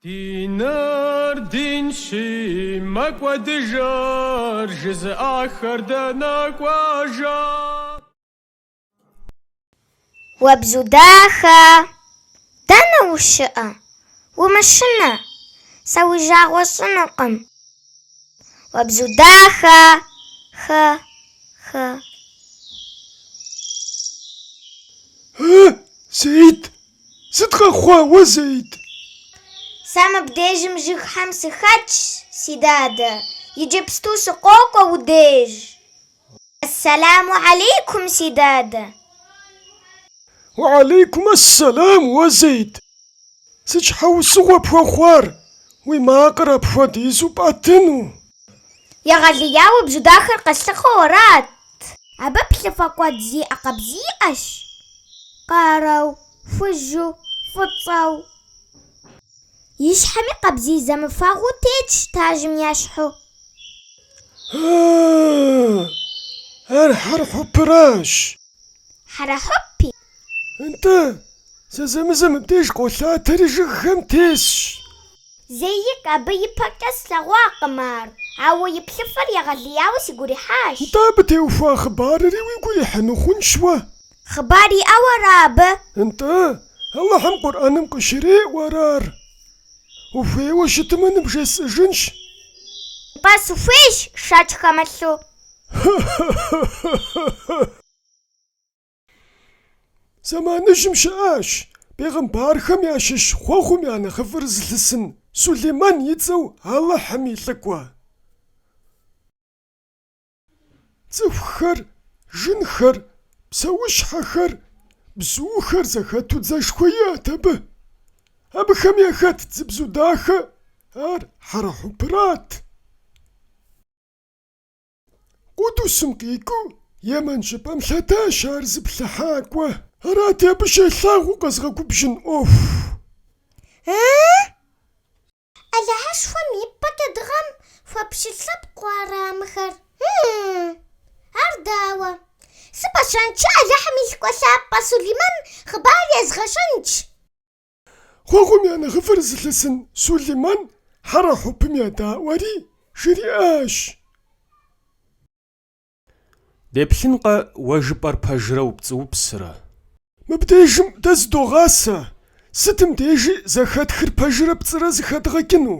Диныр динщи, мэкӏуэдыжыр жызыӏахэр дэнэ кӏуэжа? Уэ бзу дахэ, дэнэ ущыӏэ? Умышынэ, сэ уи жагъуэ сщӏынукъым. Уэ бзу дахэ, хы, хы. Хы, Зэид? Сыт къэхъуа уэ, Зэид? Сэ мыбдежым жыгхэм сыхэтщ, си дадэ, иджыпсту сыкъокӏуэ уи деж. Ассаламу алейкум, си дадэ. Уалейкум ассалам, уэ, Зэид. Сыт щхьэусыгъуэ пхуэхъуар, уи макъыр апхуэдизу пӏэтыну? Егъэлеяуэ бзу дахэр къэслъыхъуэу арат. Абы плъыфэ куэд зиӏэ къабзий иӏэщ. Къарэу, хужьу, фӏыцӏэу. И щхьэми къабзий зэмыфэгъуу тетщ тажым ещхьу. Ар хьэрхьупыращ. Хьэрхьупи? Нтӏэ, зэзэмызэ мыбдеж къолъатэри жыгхэм тесщ. Зэикӏ, абы ипэкӏэ слъэгъуакъым ар, ауэ и плъыфэр егъэлеяуэ сигу ирихьащ. Нтӏэ, абы теухуа хъыбарри уигу ирихьыну хъунщ уэ? Хъыбар иӏэу ара абы? Нтӏэ, Алыхьым Къурӏэным къыщреӏуэр ар? Ухуейуэ щытымэ, ныбжесӏыжынщ. Нтӏэ, сыхуейщ, шэч хэмылъу. Хы-хы-хы-хы-хы-хы! Зэманыжьым щыӏащ бегъымбархэм ящыщ хъуэхъум я нэхъыфӏыр зылъысын Сулейман и цӏэу Алыхьым и лӏыкӏуэ. Цӏыхухэр, жынхэр, псэущхьэхэр, бзухэр зэхэту дзэшхуэ иӏэт абы. Абыхэм яхэтт зы бзу дахэ, ар хьэрхьупырат. Къудусым къикӏыу Емэн щӏыпӏэм лъэтащ ар зыплъыхьакӏуэ. Арати, абы щелъагъуу къэзыгъэгубжьын ӏуэху. Алыхьышхуэм и пӏэкӏэ дыгъэм хуэпщылӏ лъэпкъу ара мыхэр? Ар дауэ? Сыпӏэщӏэнщи Алыхьым и лӏыкӏуэ лъапӏэ Сулейман хъыбар езгъэщӏэнщ. Хъуэхъум я нэхъыфӏыр зылъысын Сулейман хьэрхьупым едаӏуэри, жриӏащ. Деплъынкъэ уэ жыпӏэр пэжрэ упцӏыупсрэ? Мыбдежым дэ зыдогъасэ, сытым дежи зэхэтхыр пэжрэ пцӏырэ зэхэдгъэкӏыну.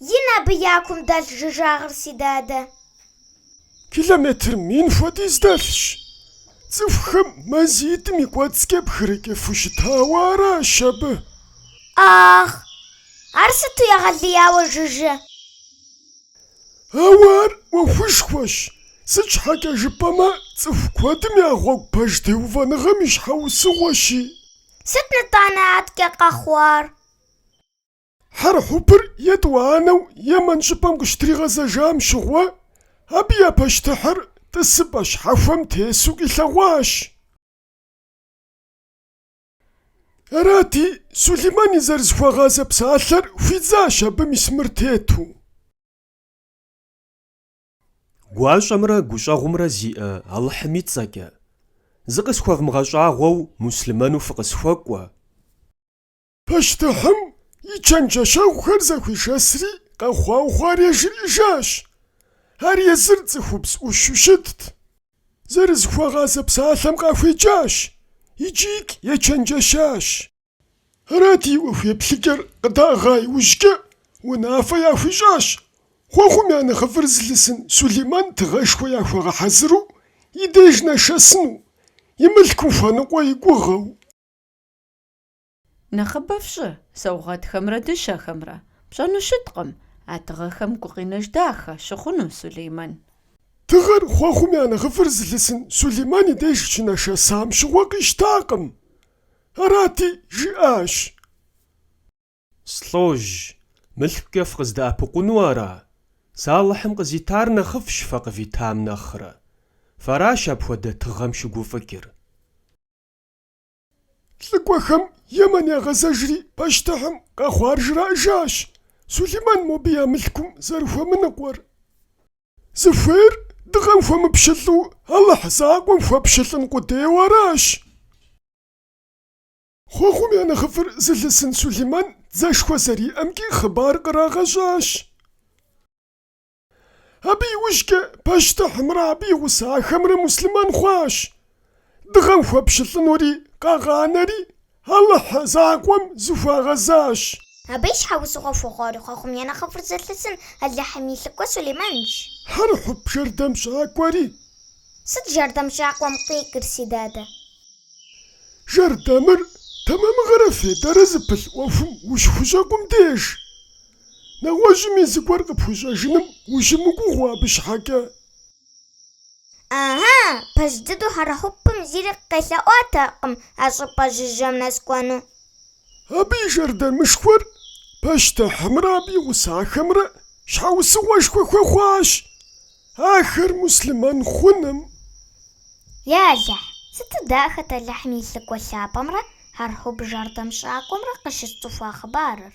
Ин абы я кум дэлъ жыжьагъыр, си дадэ. Километр мин хуэдиз дэлъщ. Цӏыхухэм мазитӏым и кӏуэцӏкӏэ пхырыкӏыфу щытауэ аращ абы. Ахъ, ар сыту егъэлеяуэ жыжьэ! Ауэ ар ӏуэхушхуэщ, сыт щхьэкӏэ жыпӏэмэ цӏыху куэдым я гъуэгу пэж теувэныгъэм и щхьэусыгъуэщи. Сыт нытӏанэ аткӏэ къэхъуар? Хьэрхьупыр етӏуанэу Емэн щӏыпӏэм къыщытригъэзэжам щыгъуэ, абы я пащтыхьыр тӏысыпӏэ щхьэхуэм тесу къилъэгъуащ. Арати, Сулейман и зэрызыхуэгъазэ псалъэр хуидзащ абы мис мыр тету. Гуащӏэмрэ гущӏэгъумрэ зиӏэ Алыхьым и цӏэкӏэ, зыкъысхуэвмыгъэщӏагъуэу муслъымэну фыкъысхуэкӏуэ. Пащтыхьым и чэнджэщэгъухэр зэхуишэсри къэхъуау хъуар яжриӏэжащ. Ар езыр цӏыхубз ӏущу щытт. Зэрызыхуэгъазэ псалъэм къахуеджащ икӏикӏ ечэнджэщащ. Арати, ӏуэху еплъыкӏэр къыдаӏыгъа иужькӏэ унафэ яхуищӏащ, хъуэхъум я нэхъыфӏыр зылъысын Сулейман тыгъэшхуэ яхуэгъэхьэзыру и деж нэшэсыну, и мылъку хуэныкъуэ и гугъэу. Нэхъыбэ фщӏы, саугъэтхэмрэ дыщэхэмрэ. Пщӏэну щыткъым, а тыгъэхэм гукъинэж дахэ щыхъуну Сулейман. Тыгъэр хъуэхъум я нэхъыфӏыр зылъысын Сулейман и деж щынашэсам щыгъуэ къищтакъым. Арати, жиӏащ. Слӏожь, мылъкукӏэ фыкъыздэӏэпыкъуну ара? Сэ Алыхьым къызитар нэхъыфӏщ фэ къывитам нэхърэ. Фэращ апхуэдэ тыгъэм щыгуфӏыкӏыр. Лӏыкӏуэхэм Емэн ягъэзэжри, пащтыхьым къэхъуар жраӏэжащ Сулейман мобы я мылъкум зэрыхуэмыныкъуэр. Зыхуейр дыгъэм хуэмыпщылӏу Алыхь закъуэм хуэпщылӏын къудейуэ аращ. Хъуэхъум я нэхъыфӏыр зылъысын Сулейман дзэшхуэ зэриӏэмкӏи хъыбар кърагъэщӏащ. Абы иужькӏэ пащтыхьымрэ абы и гъусэхэмрэ муслъымэн хъуащ. Дыгъэм хуэпщылӏынури къагъанэри Алыхь закъуэм зыхуагъэзащ. Абы и щхьэусыгъуэ хуэхъуари хъуэхъум я нэхъыфӏыр зылъысын Алыхьым и лӏыкӏуэ Сулейманщ. Хьэрхьуп жэрдэмщӏакӏуэри. Сыт жэрдэмщӏакӏуэм къикӏыр, си дадэ? Жэрдэмыр тэмэмыгъэрэ фейдэрэ зыпылъ ӏуэхум ущыхущӏэкъум деж. Нэгъуэщӏым зыгуэр къыпхуищӏэжыным ущымыгугъыу абы щхьэкӏэ? Ыхьы, пэж дыдэу хьэрхьупым зыри къелъэӏуатэкъым а щӏыпӏэ жыжьэм нэс кӏуэну. Абы и жэрдэмышхуэр пащтыхьымрэ абы и гъусахэмрэ щхьэусыгъуэшхуэ хуэхъуащ ахэр муслъымэн хъуным. Я Алыхь, сыту дахэт Алыхьым и лӏыкӏуэ лъапӏэмрэ хьэрхьуп жэрдэмщӏакӏуэмрэ къыщысцӏыхуа хъыбарыр!